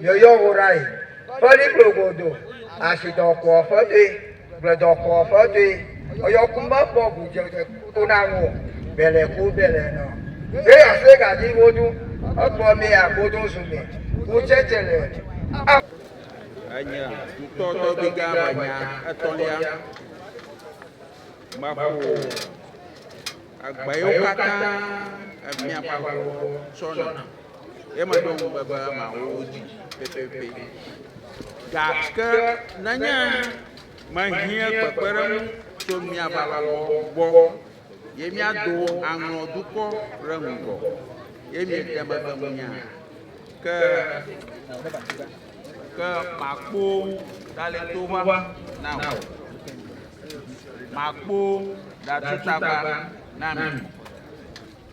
Yeyɔ wo ɖa yi ƒe liƒo godo, asidɔkɔa ƒe toe, gbledɔkɔa ƒe toe, eyɔ ku mekpɔ gudzedze to na ŋu o, bele ku bele nɔ. Ye ase gadi wodu, ekpɔ mɛ agodo zu mɛ, ku tsɛtsɛ le a. Enye ŋutɔ tɔgbiga me nya etɔ̃lia meƒo egbewo katã emiaƒe aƒewo tsɔna. Ye meɖo ŋugbe be mawu wo dzi pɛpɛpɛ. Gake nenye mehiẽ kpekpeɖeŋu tso mia balɔbɔ gbɔ, ye miado aŋlɔ dukɔ ɖe ŋgɔ, ye miede megbe ŋunye hã, ke ke makpo daletoʋaʋã na mi, makpo datutagba na mi.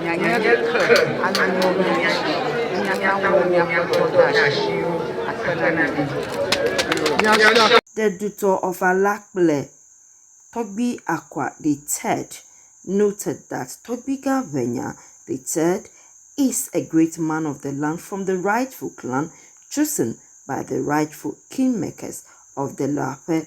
Mianye ke anuwo be miaɖe miaƒe nyametsɔdɔasiwo akpe na mi ɖi. Miasrã. The Dutɔ of Allah kple Tɔgbi Akwa the Third noted that Tɔgbiga Ʋenya the Third is a great man of the land from the rightful clan chosen by the rightful kingmakers of the Lape